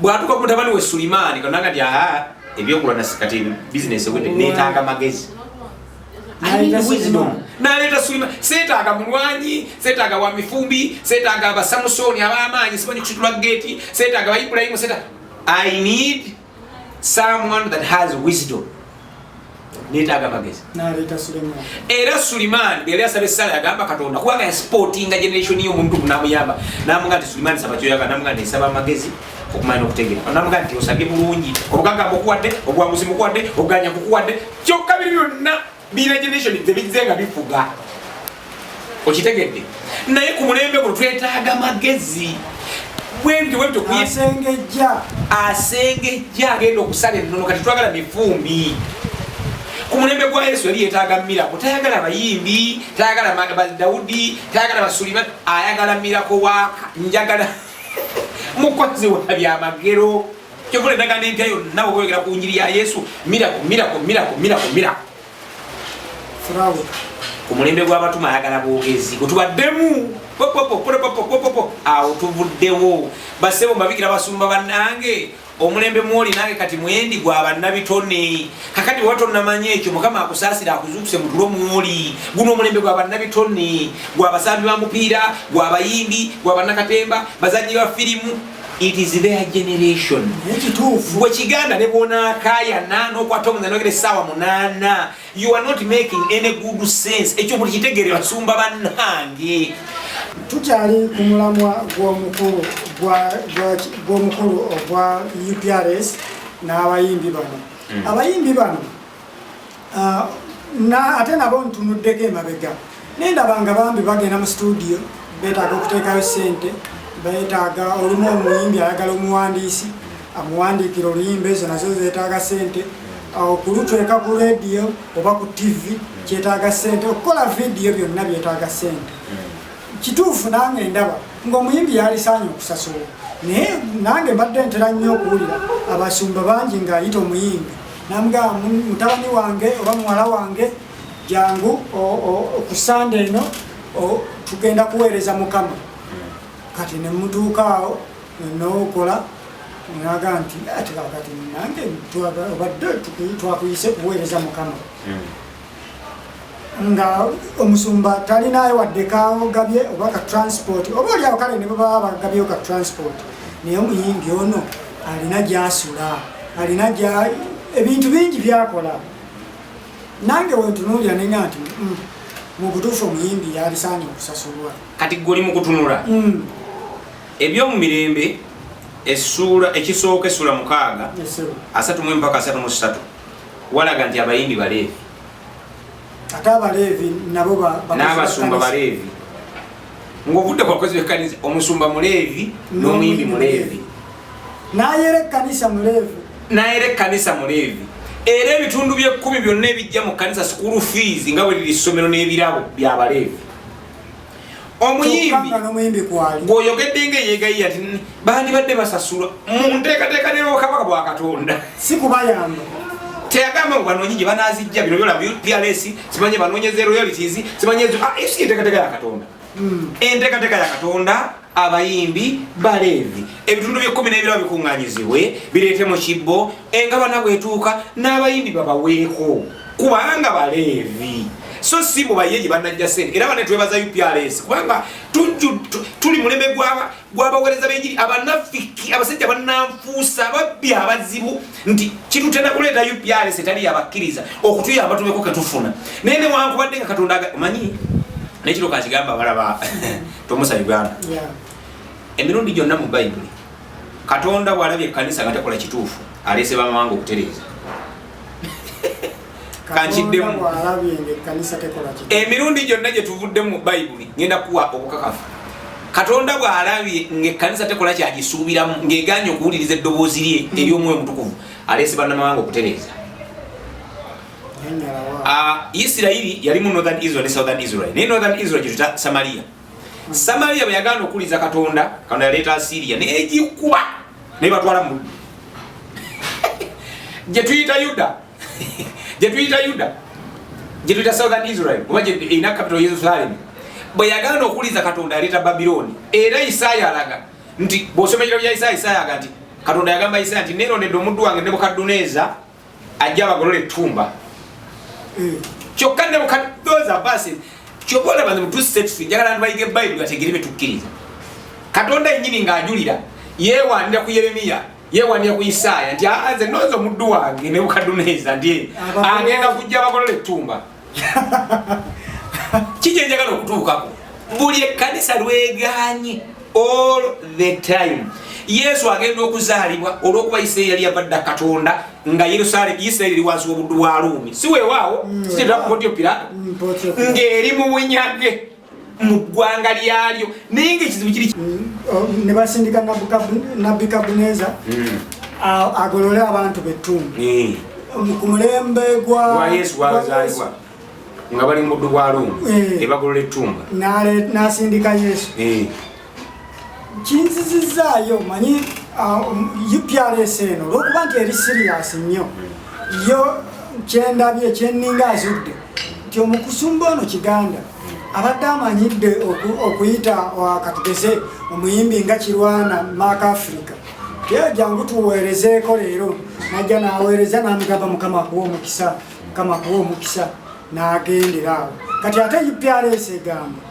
bwatuka ku mutabani we Sulimani kananga nti aha ebyokulwa na sikati business ewedde neetaaga magezi naleeta Sulimani seetaaga mulwanyi seetaaga wa mifumbi seetaaga abasamusoni ab'amaanyi simanyi kusitula geeti seetaaga ba Ibulayimu seetaaga I need someone that has wisdom netaaga amagezi era suliman yali asaba esala yagamba katonda kubanga yasportinga generation yo omuntu namuyamba namuga nti suliman saba kyoyaga namuga nti nsaba amagezi okumanya okutegera namuga nti osabye bulungi obugagamba okuwadde obwanguzi mukuwadde okuganya kukuwadde kyokka biri byonna biina generation tebizze nga bifuga okitegedde naye ku mulembe guno twetaaga magezi bwebitobwebitokuyasengejja asengejja agenda okusala ennono kati twagala mifumbi ku mulembe gwa yesu yali yetaaga mirako tayagala bayimbi tayagala daudi tayagala basuliman ayagala mirako waka njagala mukozi wa byamagero kyokola endagaano empya yonna okweyogera ku njiri ya yesu mirako mirako mirako mirako mirako ku mulembe gw'abatuma ayagala bwogezi gwetubaddemu awo tuvuddewo basebo mbabikira basumba bannange omulembe mwoli nange kati mwendi gwa bannabitone kakati bweba tonamanya ekyo mukama akusaasire akuzuukuse mutulo mwoli guno omulembe gwa bannabitone gwa basambi ba mupiira gwa bayimbi gwa bannakatemba bazanyi ba firimu it is their generation gwe kiganda ne bwonakayana nokwata omuza nogera esaawa munana you are not making any good sense ekyo buli kitegere basumba banange tukyali ku mulamwa gwomukulu gwomukulu ogwa uprs n'abayimbi bano hmm. abayimbi bano ah, ate nabo ntunuddeko emabega nendaba nga bambi bagenda mu situdiyo betaaga okuteekayo sente betaaga olumu omuyimbi ayagala omuwandiisi amuwandiikira oluyimba ezo nazo zetaaga sente okulutweka ah, ku rediyo oba ku tivi kyetaaga sente okukola vidiyo byonna byetaaga sente kituufu nange ndaba ngaomuyimbi yalisaanye okusasola naye nange mbadde ntera nnyo okuwulira abasumba bangi ngaayita omuyimbi namugamba mutabani wange oba muwala wange jangu ku sande eno tugenda kuweereza mukama kati nemutuukaawo nokola naga nti ati kakati nange obadde twakuyise kuweereza mukama hmm. nga omusumba talinayo wadde kagabye oba ka transport oba olyawo kale ne bwebaba bagabyeyo ka transport naye omuyimbi ono alina gyasula alina ebintu bingi byakola nange wentunuulira nenya nti mm, mubutuufu omuyimbi yabisaanye okusasulwa kati goli mukutunula mm. ebyomumirembe esuula ekisooka esuula mukaaga asatu mu empaka asatu mu satu walaga nti abayimbi baleevi ate abaleevi nabo n'abasumba baleevi ng'ovudde ku bakozi b'ekkanisa omusumba muleevi n'omuyimbi muleevi n'ayera ekkanisa muleevi n'ayera ekkanisa muleevi era ebitundu by'ekkumi byonna ebijja mu kkanisa sukulu fiizi nga bwe liri ssomero n'ebirabo by'abaleevi omuyimbi gwoyogedde nga eyegayiya ti bandibadde basasulwa munteekateeka nerwokabaka bwa katonda si kubayamba teyagamba banoonyi gye banazijja bino byolaba pls simanye banoonyeza royalities simanye enteekateeka ah, ya katonda hmm. enteekateeka ya katonda abayimbi baleevi ebitundu byekkumi n'ebirabo bikuŋŋanyizibwe bireete mu kibbo engabana bwetuuka n'abayimbi babaweeko kubanga baleevi so si mu baye gye banajja sente era bane twebaza uprs kubanga tuli mulembe gwabawereza benjiri abanafiki abasajja bananfuusa babbi abazibu nti kitutenda kuleeta uprs etali yabakkiriza okutuyamba tubeko ketufuna naye newankubadde nga katonda manyi nekiro kakigamba balaba tomusa uganda emirundi gyonna mu bayibuli katonda bwalabye ekkanisa nga tekola kituufu aleese bamawanga okutereeza kankiddemu emirundi gyonna gye tuvudde mu bayibuli ngenda kuwa obukakafu katonda bwalabye ngaekkanisa tekola kyagisuubiramu ng'eganye okuwuliriza eddoboozi lye ery'omwoyo omutukuvu aleese bannamawanga okutereeza Ah, Isirayiri yali mu northern Israel ne southern Israel. Ne northern Israel kituta Samaria. Samaria bayagana okuliza Katonda, kana yaleta Assyria ne ejikuba ne batwala mu. Je tuita Yuda. Je tuita Yuda. Je tuita southern Israel. Kuba je ina capital Jerusalem. Bayagana okuliza Katonda yaleta Babiloni. Era Isaya alaga nti bosomera ya Isaya Isaya agati Katonda yagamba Isaya nti nero ne domudu wange ne bukaduneza ajja abagolola ettumba hmm. kyokka ne bukadooza basi kyoba olaba ne mutusetusu njagala nti bayige bayibuli bategere betukkiriza katonda yennyini ng'ajulira yeewandira ku yeremiya yeewandira ku isaaya nti nze nonza omuddu wange ne bukaduneeza nti agenda kujja abagolola ettumba kiki enjagala okutuukako buli ekkanisa lweganye all the time yesu agenda okuzaalibwa olwokuba isirairi yali yavadda katonda nga yerusalemu isirairi eri wansi wobuddu bwa luumi si wewaawo mm. sikirakukotyo pirato mm, ng'eri mu bunyage mu ggwanga lyalyo naye nga ekizibu kiri ne basindika nabbi kabuneza hmm. agolole abantu bettundu hmm. ku mulembe gwa yesu gwazaalibwa nga bali mu muddu gwa lumu eh. ebagolola ettumba n'asindika yesu eh. kinzizizaayo manyi uprs uh, um, eno olwokuba nti eri siriyasi nnyo yo kyendabye kyeninga azudde nti omukusumba ono kiganda abadde amanyidde okuyita uh, katugeze omuyimbi nga kirwana maaka africa era jangu tuweerezeeko leero najja naweereza namugamba mukama akuwa omukisa mukama akuwa omukisa nagendera awo kati ate uprs egamba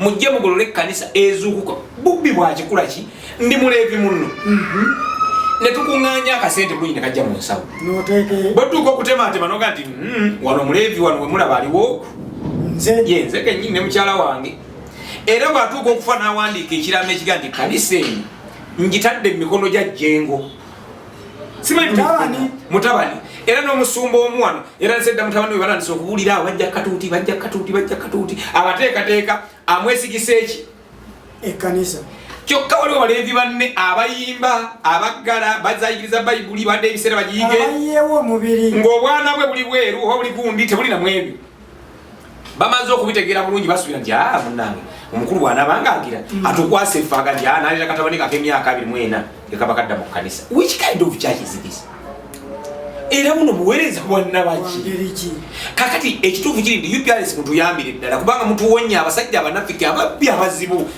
mujje mugolole ekkanisa ezuukuka bubbi bwakikula ki ndi muleevi munno mhm. ne tukuŋŋaanya akasente bulungi ne kajja mu nsawo bwetuuka okutemaatema noga nti hmm, wano muleevi wano wemulaba aliwo ye nze kenyini ne mukyala wange era bwatuuka okufa n'awandiika ekiraamo ekiga nti kanisa eno ngitadde mu mikono gya jjengo simanyi mutabani era n'omusumba omu wano era nsedda mutabani we balandisa okuwulira awo bajja katuuti bajja katuuti bajja katuuti abateekateeka amwesigisa eki ekkanisa kyokka waliwo baleevi banne abayimba abaggala bazayigiriza bayibuli badde ebiseera bagiyige ng'obwana bwe buli bweru oba buli gundi tebuli namwebyo bamaze okubitegeera bulungi basuubira nti aa ah, munange omukulu bwanaba nga agira mm. atukwasa efaaga nti aa ah, nalira katabani kake emyaka abiri mwena ekaba kadda mu kanisa which kind of church is this era buno buweereza bwannabaki kakati ekituufu kiri nti uprs mutuyambire ddala kubanga mutuwonya abasajja abanafiki ababbi abazibu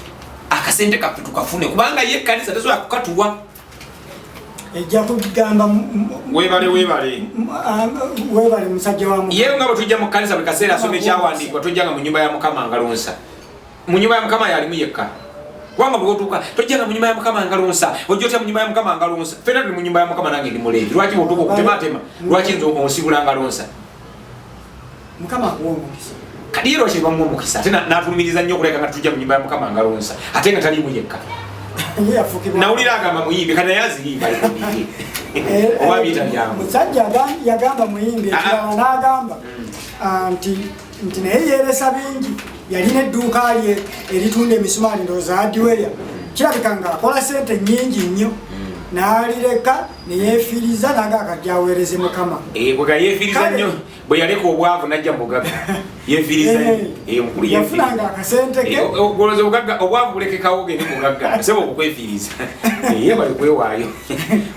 akasente kaffe tukafune kubanga ye ekkanisa tesobola kukatuwa ejja kugamba webale webale webale musajja wa mukama yewe nga bwetujja mu kkanisa buli kaseera asoma ekyawandiikibwa tojjanga mu nyumba ya mukama ngalonsa mu nyumba ya mukama yalimu yekka kubanga bwotuuka tojjanga mu nyumba ya mukama ngalonsa ojja otya mu nyumba ya mukama ngalonsa fena tuli mu nyumba ya mukama nange ndi muleevi lwaki bwotuuka okutematema lwaki nze onsibula ngalonsa mukama akuwa omukisa kadiira okyebamu omukisa ate natulumiriza nnyo okuleka nga tujja mu nyumba ya mukama ngalonsa ate nga taliimu yekka nawulira agamba muyimbi kati naye aziyimba oba biyita byamu musajja yagamba muyimbi ekirala n'agamba nti nti naye yeeresa bingi yalina edduuka lye eritunda emisumaali ndooza adiweya kirabika ng'akola sente nnyingi nnyo n'alireka neyefiiriza nange akajja aweereze mukama eh, bwega yefiiriza nnyo bwe yaleka obwavu najja mubugaga yefiirizayafunanga eh, akasente ke eh, ogoloza obugagga obwavu bulekekawo gende mubugagga sebo okukwefiiriza ye bali kwewaayo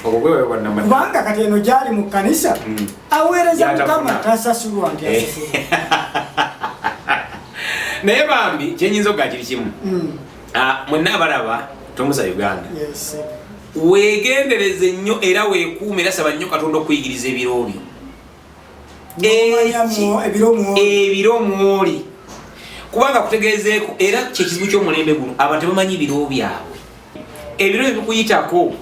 obwo bwewayo bwanamanya kubanga kati eno gyali mu kkanisa hmm. aweereza mukama tasasulwa nti asasulwa naye bambi kyenyinza okugakiri kimu hmm. Ah, mwenna abalaba tomuza uganda wegendereze nnyo era wekuuma era saba nnyo katonda okuyigiriza ebiroobyo ebiro mwoli kubanga kutegeezeeko era kyekizibu kyomulembe guno abantu bamanyi biro byabwe ebiro ebikuyitako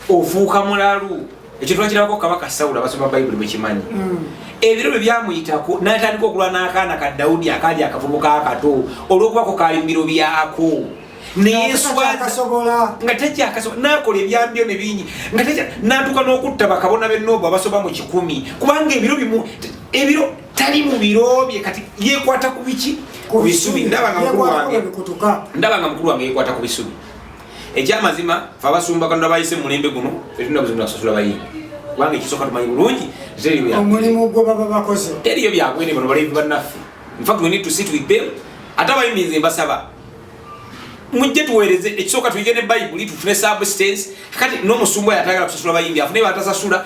ofuuka mulalu ekyo twakirabako kabaka sawulo abasoma bayibuli bwekimanyi mm. ebiro bwe byamuyitako natandika okulwa n'akaana ka dawudi akaali akavubuka akato olwokubako kaali mubiro byako neyeswaza nga tekyakasobola nakola ebyambyo ne bingi nga natuka n'okutta bakabona benoobu abasoba mu kikumi kubanga ebiro bimu ebiro tali mu biro bye kati yekwata ku biki ku bisubi ndaba nga mukulu wange yekwata ku bisubi ekyamazima fe abasumba katonda bayise mulembe guno fetulina buzibu nakusasula bayimbi kubanga ekisooka tumanyi bulungi omulimu gwe baba bakoze teriyo byabwene bano balevi bannaffe infact we need to sit with them ate abayimbi nze mbasaba mujje tuweereze ekisooka tuyige ne bayibuli tufune substance kati n'omusumba yatagala kusasula bayimbi afune batasasula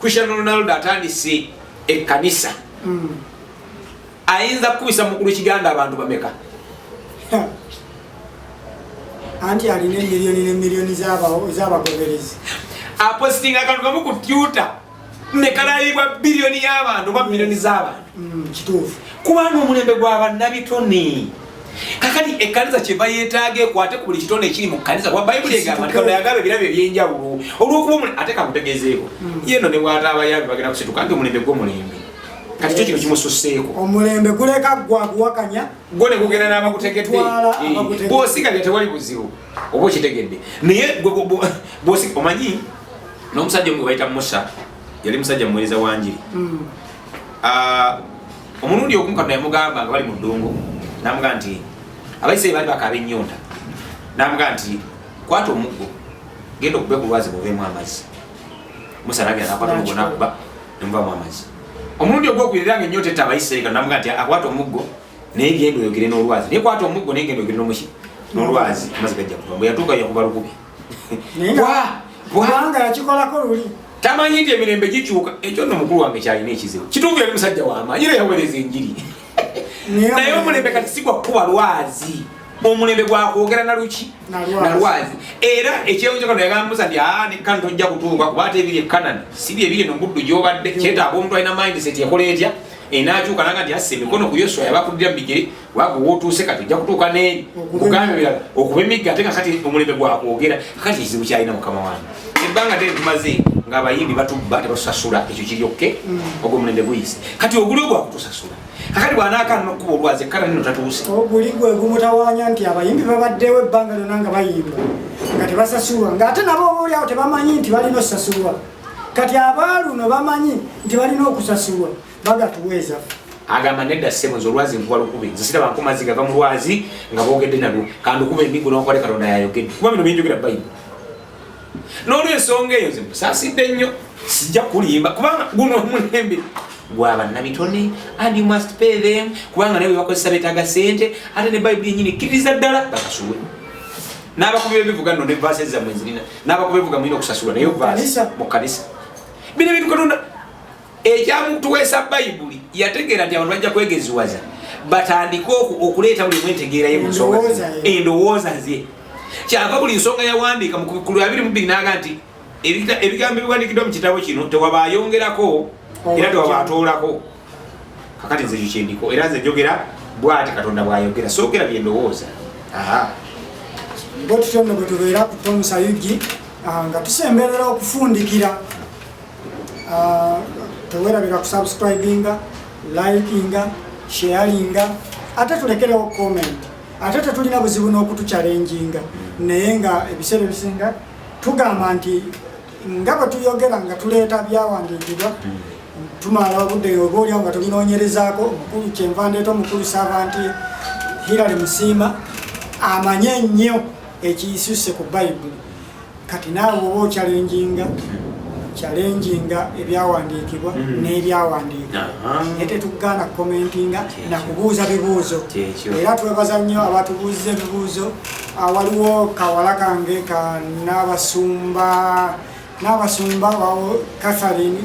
Cristiano Ronaldo atandise ekkanisa mm. ayinza kukubisa mukulu kiganda abantu bameka anti alina emiliyoni nemiliyoni zabagoberezi apositinga akantu kamu ku tyuta nekalayibwa biliyoni yabantu oba miliyoni zabantu mm, kituufu kubaana omulembe gwa bannabitone kakati ekkanisa kyeva yeetaaga ekwate ku buli kitonde ekiri mu kkanisa kuba bayibuli egamba nti katonda yagaba ebirabo ebyenjawulo olw'okuba omuli ate kakutegezeeko hmm. yeno ne bwata abayaabi bagenda kusituka nti omulembe gw'omulembe kati kyo kino kimususseeko omulembe guleka gwa kuwakanya gwo ne gugenda n'abagutegedde eh, bwosigalya tewali buzibu oba okitegedde naye omanyi n'omusajja omu gwe bayita musa yali musajja muweereza wa njiri hmm. ah, omulundi ogumu katonda yamugamba nga bali mu ddungu namuga nti abaisiraeri bali bakaaba ennyonta namuga nti kwata omuggo genda okube ku lwazi buveemu amazzi musa nagenda nakwata omuggo nakuba nemuvamu amazzi omulundi ogwokubirira nga ennyonta etta abaisiraeri katonda namuga nti akwata omuggo naye genda oyogere n'olwazi naye kwata omuggo naye genda oyogere n'omuki n'olwazi amazzi gajja kuva mbwe yatuuka yakuba lukubi kubanga yakikolako luli tamanyi nti emirembe gikyuka ekyo nno mukulu wange kyalina ekizibu kituufu yali musajja wamaanyi era yawereza enjiri naye omulembe kati sigwa kukuba lwazi omulembe gwakwogera naluki nalwazi era ekyeyonjekano yagambuza nti aa ah, nekkan tojja kutuuka kuba ate ebiri ekanani sibi ebiri no muddu gyobadde kyetaaga omuntu alina mindset ekola etya enakyuka naga nti asse emikono ku yoswa yabakulira mubigere wago wotuuse kati ojja kutuuka ne buganda birala okuba emigga ate nga kati omulembe gwakwogera kati ekizibu kyalina mukama wange ebbanga te tumaze ngaabayimbi batubba tebatusasula ekyo kiryokke mm. ogwo omulembe guyise kati oguli ogwakutusasula kakati bwanaaka nokuba olwazi ekkana nino tatuuse oguli gwe gumutawanya nti abayimbi babaddewo ebbanga lyona nga bayimba nga tebasasulwa ngaate nabo obaolyawo tebamanyi nti balina osasulwa kati abaaluno bamanyi nti balina okusasulwa baga tuweza agamba nedda ssebo nze olwazi nkuba lukubi nze siraba nku mazzi gava mu lwazi nga boogedde nalwo kandukuba emigu nokole katonda yayogedde kuba bino byenjogera bayibuli n'olwensonga eyo nze musaasidde nnyo sijja kulimba kubanga guno omulembe gwabannabitone and you must pay them kubanga naye webakozesa betaaga sente ate ne bayibuli yenyini kkiriza ddala bakasuwe n'abakubi bebivuga no ne vaase zammwe zirina n'abakubi bevuga mulina okusasulwa naye vaase mu kanisa bino ebintu katonda ekyamutuweesa bayibuli yategeera nti abantu bajja kwegeziwaza batandike okuleeta buli mwentegeera ye munsonga endowooza ze kyava buli nsonga yawandiika mukulu abiri mubiri naga nti ebigambo ebiwandikiddwa mu kitabo kino tewaba ayongerako oh, era tewaba atoolako kakati nze ekyo kyendiko era nze njogera bwati katonda bwayogera soogera byendowooza bwe tutyo nno bwe tubeera ku tomusayugi ah, nga tusemberera okufundikira Ah, tewerabira kusubscribinga likinga sharinga ate tulekerewo comment ate tetulina buzibu n'okutucalenjinga naye nga ebiseera ebisinga tugamba nti nga bwe tuyogera nga tuleeta byawandiikibwa tumala obudde oba olyawo nga tubinoonyerezaako omukulu kyenva ndeeta omukulu saava nti hirale musiima amanye ennyo ekiyisuse ku bayibuli kati naawe oba okyalenjinga kyalenjinga ebyawandiikibwa mm. n'ebyawandiika naye tetugaana kukomentinga na kubuuza bibuuzo era twebaza nnyo abatubuuziza ebibuuzo ah, waliwo kawala kange ka n'abasumba n'abasumba wawo katharine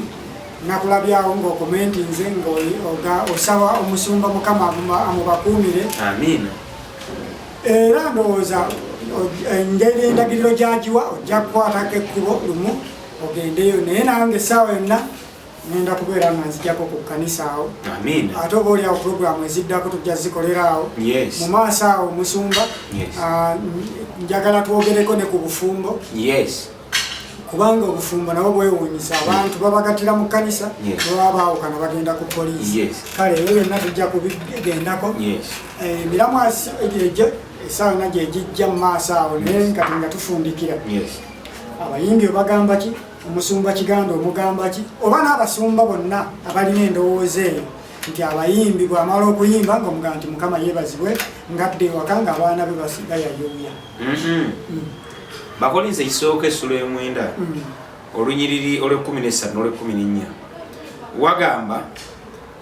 nakulabyawo ngaokomentinze ngaosaba omusumba mukama amubakuumire era ndowooza engeri endagiriro gyagiwa ojja kukwatako ekkubo lumu ogendeyo naye nange essaawa yonna ngenda kubeera nga nzijako ku kkanisa awo ate oba oliawo puroguramu eziddako tujja zikolera awo mu maaso awo omusumba ah, njagala twogereko ne ku bufumbo kubanga obufumbo nabo bwewunyisa abantu babagatira mu kanisa baba baawukana bagenda ku poliisi kale ebyo byonna tujja kubigendako eh, emiramu egyo esaawa na gyegijja mu maaso awo naye nkati nga tufundikira abayimbi obagamba ki omusumba kiganda omugamba ki oba n'abasumba bonna abalina endowooza eyo nti abayimbi bwamala okuyimba nga omugaa nti mukama yebazibwe ngadde ewaka nga abaana be basigayayuuya mm-hmm. mm. bakolinze ekisooka essula emwenda mm. olunyiriri olwekumi nesatu nolwekumi nenya wagamba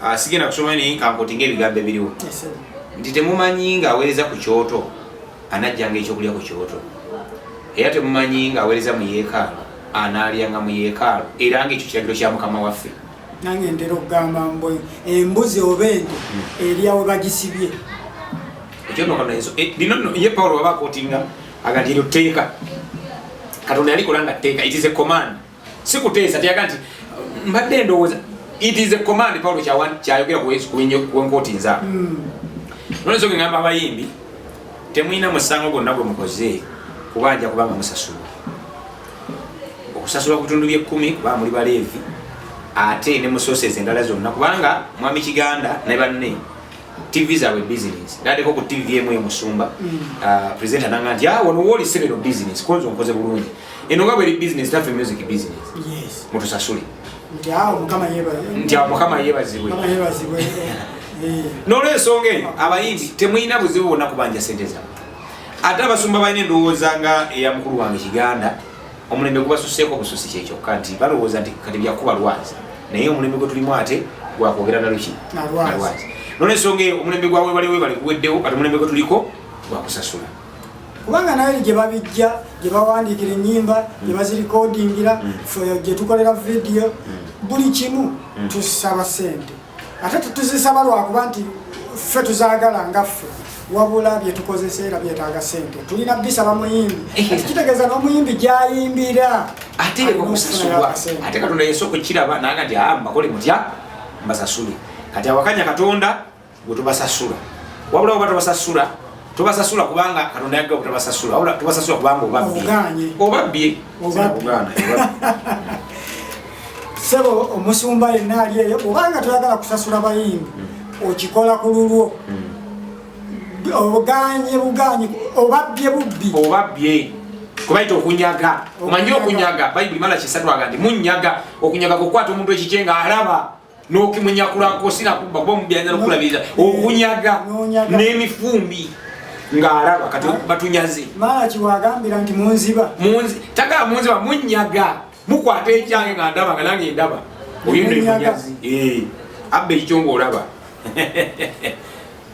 ah, sigenda kusoma naye nkankoti ngaebigambo ebiriwo nti temumanyi nga aweereza ku kyoto anajjanga ekyokulya ku kyoto era temumanyi nga aweereza mu yeekaalo anaalyanga mu yeekaalo era ngaekyo kiragiro kya mukama waffe nange ntera okugamba mbu embuzi oba ente hmm. eryawe bagisibye ekyonokonaye eh, pawulo waba akotinga aga nti eryo tteeka katonda yalikola nga tteeka it is a command si kuteesa teyaga nti mbadde ndowooza it is a command paulo kyayogera kuwenkooti nza hmm. nolwensonga engamba abayimbi temulina musango gwonna gwe mukoze kubanja kubanga musasula okusasula kutundu byekkumi kuba muli baleevi ate ne musooseeza endala zonna kubanga mwami kiganda ne banne TV zaabwe business naddeko ku TV emu emusumba mm. ah, presenter nanga nti ah, wano wooli sebe no business konzo nkoze bulungi eno nga bweri business nafe music business mutusasule nti awo mukama yebazibwe eh. nolwensonga eyo abayimbi temulina buzibu bonna kubanja sente zaabwe ate abasumba balina endowooza nga eya mukulu wange kiganda omulembe gubasuseeko bususi kyekyokka nti balowooza nti kati byakuba lwazi naye omulembe gwe tulimu ate gwakwogera naluki nalwazi nolwensonga eyo omulembe gwa webale webale guweddewo kati omulembe gwe tuliko gwakusasula kubanga naye gye babijja gye bawandiikira ennyimba gye mm. bazirikodingira mm. fe gye tukolera vidiyo mm. buli kimu tusaba sente ate tetuzisaba lwakuba nti ffe tuzagala nga ffe wabula byetukozesa era byetaaga sente tulina bisaba muyimbi kitegeeza n'omuyimbi gyayimbira ate okusasulwa ate katonda yesu okukiraba naga nti a ah, mbakole mutya mbasasule kati awakanya katonda gwetubasasula wabula oba tubasasula tubasasula kubanga katonda yagga kutabasasula wabula tubasasula kubanga obabbye obabbye sebo omusumba yenna ali eyo obanga toyagala kusasula bayimbi hmm. okikola ku lulwo hmm. obuganye buganyi obabbye bubbi obabbye kubaita okunyaga omanyi okunyaga bayibuli mala kisatwaga nti munyaga okunyaga kukwata omuntu ekikye nga alaba n'okimunyakulako sinakubba kuba omubbi ayinza nokulabiriza okunyaga n'emifumbi ng'alaba kati ah. batunyaze malaki wagambira nti munziba tagala munziba munyaga mukwata ekyange nga ndaba nga nange ndaba oyo nemunyazi eh. abba ekyo ng'olaba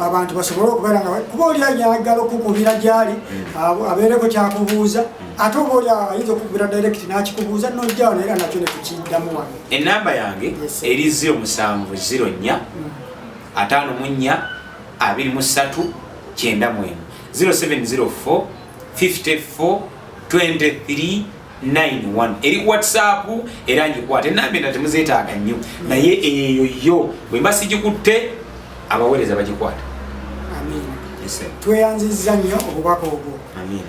abantu basobole okubeera nga kuba oli ayagala okukubira gyali hmm. abeereko kyakubuuza hmm. ate oba oli ayinza okukubira direct nakikubuuza nojjawo naye era nakyo nekikiddamu wano enamba yange eri 0704 ataano mu nnya abiri mu ssatu kyenda mwemu 0704 54 23 91 eri whatsapp era ngikwata enamba endala temuzeetaaga nnyo naye eyo yo bwe mba sigikutte abaweereza bagikwata tweyanzizza nnyo obubaka obwo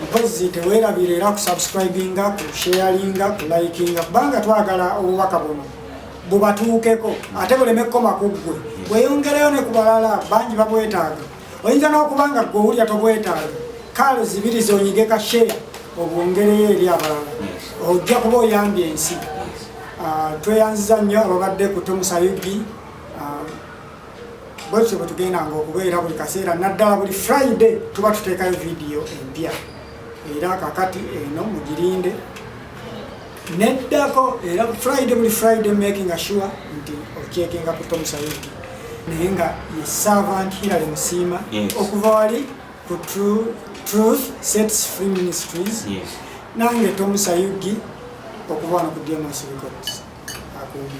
mpozi tewerabira era kusubscribinga kusharinga kulikinga kubanga twagala obubaka buno bubatuukeko ate buleme kukoma ku ggwe weyongereyo ne ku balala bangi babwetaaga oyinza n'okuba nga gwe owulira tobwetaaga kaalo zibiri zonyige ka sheya obwongereyo eri abalala ojja kuba oyambye ensi ah, tweyanziza nnyo ababadde ku tomusayubi ah, bwekityo bwe tugendanga okubeera buli kaseera naddala buli friday tuba tuteekayo vidiyo empya era kakati eno mugirinde neddako era friday buli friday making sure nti okyekinga ku tom sayidi naye nga ye servant hilary musiima okuva wali ku truth sets free ministries nange tom sayugi okuva wano ku dmos records akuumi